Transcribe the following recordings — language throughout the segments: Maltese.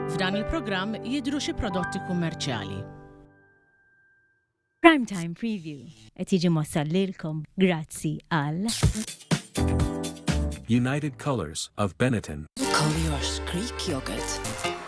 F'dan il-programm jidhru xi prodotti kummerċjali. Prime Time Preview qed jiġi mwassal lilkom grazzi għal United Colors of Benetton. Call yours Greek yogurt.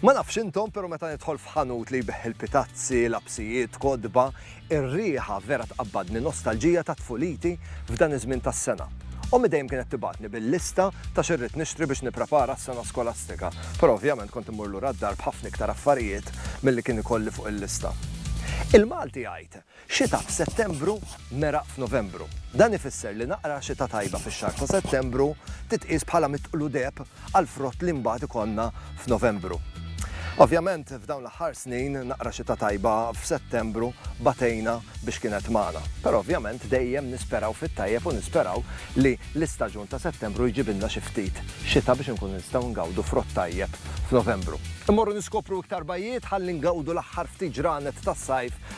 Ma nafx intom, pero meta nidħol f'ħanut li jbigħ il-pitazzi, lapsijiet, kotba, ir-riħa vera tqabbadni nostalġija ta' tfuliti f'dan iż-żmien tas-sena. Ommi dejjem kienet tibgħatni bil-lista ta' xi rrid nixtri biex nipprepara s-sena skolastika, pero ovvjament kont immur lura d-dar b'ħafna iktar affarijiet milli kien ikolli fuq il-lista. Il-Malti jgħid Xita f'Settembru, meraq f'Novembru. Dan ifisser li naqra xita tajba fix-xahar ta' Settembru titqies bħala mitqlu deheb għall-frott li mbagħad ikollna f'Novembru. Ovvjament, f'dawn l-aħħar snin, naqra xita tajba f'Settembru batejna biex kienet magħna. Però ovvjament dejjem nisperaw fit-tajjeb u nisperaw li l-istaġun ta' Settembru jġibilna xi ftit xita biex inkunu nistgħu ngawdu frott tajjeb f'Novembru. Immorru niskopru iktar bajjiet ħalli ngawdu l-aħħar ftit ġranet tas-sajf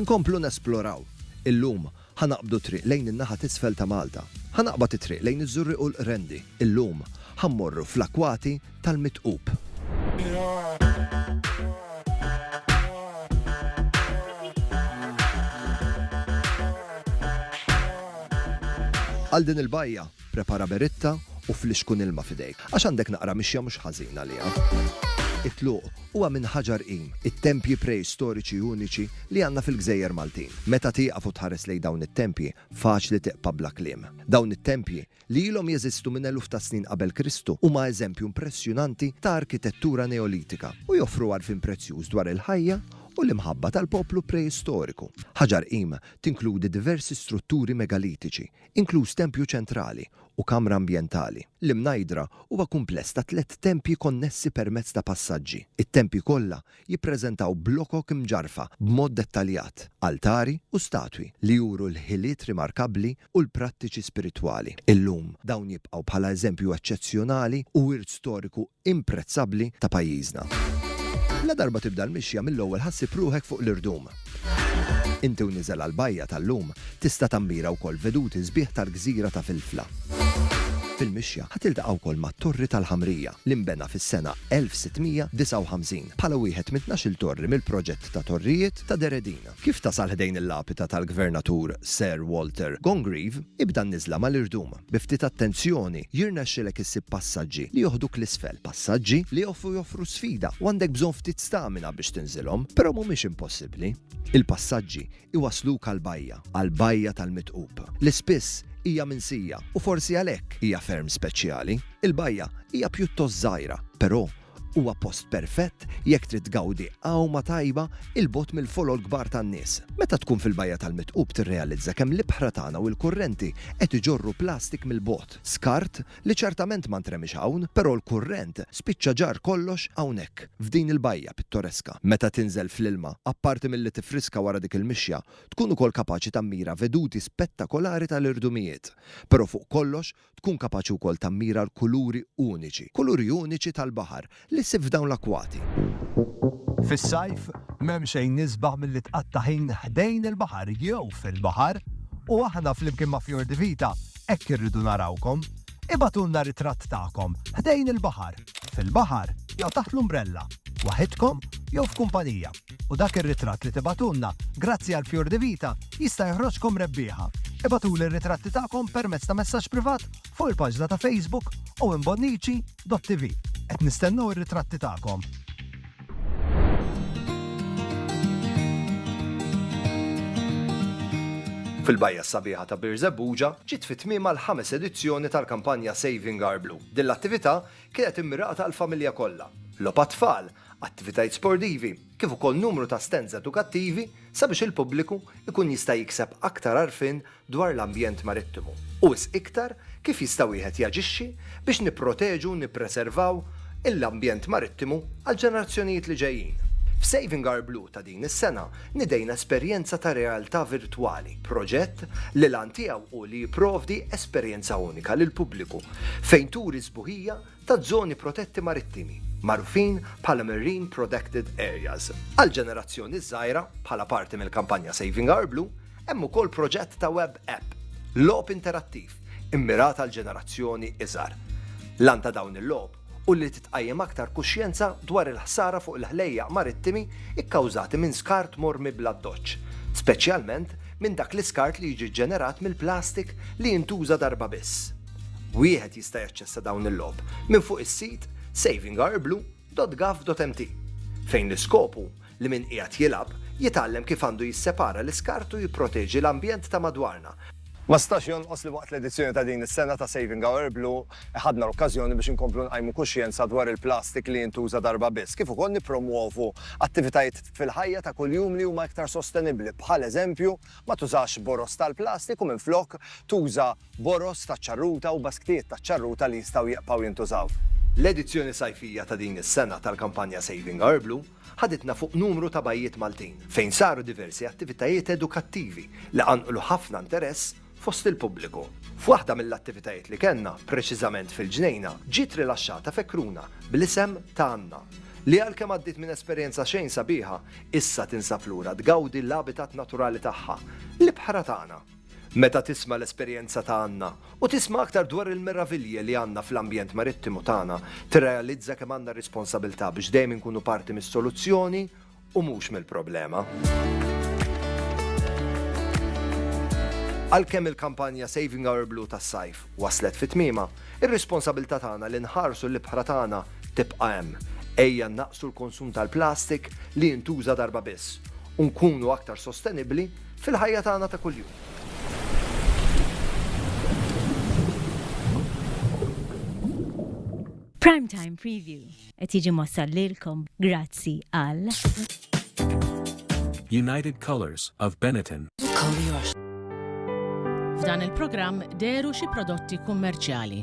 Inkomplu nesploraw. Illum, ħa naqbdu t-triq lejn in-naħa t'isfel ta' Malta. Ħa naqbad it-triq lejn iż-Żurrieq u l-Qrendi. Illum, ħa mmorru fl-akwati tal-Mitqub. Għal din il-bajja, Prepara beritta u flixkun ilma f'idejk, għax għandek naqra mixja mhux ħażin għaliha. It-tluq huwa minn ħaġar qim, it-tempji preistoriċi uniċi li għandna fil-gżejjer Maltin. Meta tieqaf u tħares lejn dawn it-tempji, faċli tiqpa' bla kliem. Dawn it-tempji, li ilhom jeżistu minn eluf ta' snin qabel Kristu, huma eżempju impressjonanti ta' arkitettura Neolitika u joffru għarfien prezzjuż dwar il-ħajja u l-imħabba tal-poplu preistoriku. Ħaġar qim tinkludi diversi strutturi megalitiċi inkluż tempju ċentrali u kamra ambjentali. L-Imnajdra huwa kumpless ta' tliet tempji konnessi permezz ta' passaġġi. It-tempji kollha jippreżentaw blokok imġarrfa b'mod dettaljat, altari u statwi li juru l-ħiliet rimarkabbli u l-prattiċi spiritwali. Illum, dawn jibqgħu bħala eżempju eċċezzjonali u wirt storiku imprezzabbli ta' pajjiżna. Ladarba tibda l-mixja mill-ewwel ħassib ruħek fuq l-irdum. Inti u niżel għall-bajja tal-lum tista' tammira wkoll veduti sbieħ tal-gżira ta' Filfla. Fil-mixja ħa tiltaqa' wkoll mat-Torri tal-Ħamrija li nbena fis-sena 1659 bħala wieħed minn tnax-il torri mill-proġett ta' torrijiet ta' Deredin. Kif tasal ħdejn il-lapita tal-Gvernatur Sir Walter Congreve, ibda n-niżla mal-irdum. Bi ftit attenzjoni, jirnexxilek issib passaġġi li joħduk 'l isfel, passaġġi li jofu joffru sfida u għandek bżonn ftit stamina biex tinżilhom, però mhumiex impossibbli. Il-passaġġi jwassluk għall-bajja, għall-bajja tal-mitqub, li spiss hija minsija u forsi għalhekk hija ferm speċjali. Il-bajja hija pjuttost żgħira, però Huwa post perfett jekk trid tgawdi għawma tajba 'il bogħod mill-folol kbar tan-nies. Meta tkun fil-Bajja tal-Mitqub tirrealizza kemm l-ibħra tagħna u l-kurrenti qed iġorru plastik mill-bogħod. Skart li ċertament ma ntremiex hawn, però l-kurrent spiċċa ġarr kollox hawnhekk, f'din il-bajja pittoreska. Meta tinżel fl-ilma, apparti milli tiffriska wara dik il-mixja, tkun ukoll kapaċi tammira veduti spettakolari tal-irdumijiet. Però fuq kollox Tkun kapaċi wkoll tammira l-kuluri uniċi, kuluri uniċi tal-baħar, li ssib f'dawn l-akkwati. Fis-sajf, m'hemm xejn isbaħ milli tqatta' ħin ħdejn il-baħar jew fil-baħar, u aħna flimkien ma' Fior di Vita hekk irridu narawkom. Ibagħtulna ritratt tagħkom ħdejn il-baħar, fil-baħar jew taħt l-umbrella, waħidkom jew f'kumpanija. U dak ir-ritratt li tibagħtulna, grazzi għal Fior di Vita, jista' joħroġkom rebbieħa! Ibagħtuli r-ritratti tagħkom permezz ta' messaġġ privat fuq il-paġna ta' Facebook owenbonnici.tv. Qed nistennew ir-ritratti tagħkom! Fil-bajja s-sabiħa ta' Birżebbuġa ġiet fi tmiemha l-ħames edizzjoni tal-kampanja Saving Our Blue. Din l-attività kienet immirata għall-familja kollha. Logħob għat-tfal, attivitajiet sportivi, kif ukoll numru ta' stands edukattivi sabiex il-pubbliku jkun jista' jikseb aktar għarfien dwar l-ambjent marittimu u wisq iktar kif jista' wieħed jaġixxi biex nipproteġu u nippreservaw il-ambjent marittimu għall-ġenerazzjonijiet li ġejjin. F'Saving Our Blue ta' din is-sena nidejna esperjenza ta' realtà virtwali, proġett li l-għan tiegħu hu li jipprovdi esperjenza unika lill-pubbliku fejn turi s-sbuħija ta' żoni protetti marittimi, magħrufin bħala marine prodected areas. Għall-ġenerazzjoni ż-żgħira, bħala parti mill-kampanja Saving Our Blue, hemm ukoll proġett ta' web app, logħob interattiv, immirat għall-ġenerazzjoni iżgħar. L-għan ta' dawn il-logħob hu li titqajjem aktar kuxjenza dwar il-ħsara fuq il-ħlejjaq marittimi kkawżati minn skart mormi bl-addoċċ, speċjalment minn dak l-iskart li jiġi ġġenerat mill-plastik li jintuża darba biss. Wieħed jista' jaċċessa dawn il-logħob minn fuq is-sit savingourblue.gov.mt fejn l-iskop hu li min qiegħed jilgħab jitgħallem kif għandu jissepara l-iskart u jipproteġi l-ambjent ta' madwarna. Ma stax jonqos li waqt l-edizzjoni ta' din is-sena ta' Saving Our Blue ħadna l-okkażjoni biex inkomplu nqajmu kuxjenza dwar il-plastik li jintuża darba biss, kif ukoll nippromwovu attivitajiet fil-ħajja ta' kuljum li huma iktar sostenibbli, bħal eżempju ma tużax boroż tal-plastik u minflok tuża boroż taċ-ċarruta u basktijiet taċ-ċarruta li jistgħu jibqgħu jintużaw. L-edizzjoni sajfija ta' din is-sena tal-kampanja Saving Our Blue ħaditna fuq numru ta' bajjiet Maltin fejn saru diversi attivitajiet edukattivi li qanqlu ħafna interess fost il-pubbliku. F'waħda mill-attivitajiet li kellna, preċiżament fil-ġnejna, ġiet rilaxxata fekruna bl-isem ta' Anna, li għalkemm għaddiet minn esperjenza xejn sabiħa, issa tinsab lura tgawdi l-abitat naturali tagħha, l-ibħra tagħna. Meta tisma' l-esperjenza ta' Anna u tisma' aktar dwar il-meravilji li għandna fl-ambjent marittimu tagħna, tirrealizza kemm għandna r-responsabilità biex dejjem inkunu parti mis-soluzzjoni u mhux mill-problema. Għalkemm il-kampanja Saving Our Blue tas-sajf waslet fi tmiemha, ir-responsabilità tagħna li nħarsu l-ibħra tagħna tibqa' hemm. Ejja nnaqqsu l-konsum tal-plastik li jintuża darba biss u nkunu aktar sostenibbli fil-ħajja tagħna ta' kuljum. Prime Time Preview qed jiġi mossal lilkom grazzi għal United Colors of Benetton. F'dan il-programm deru xi prodotti kummerċjali.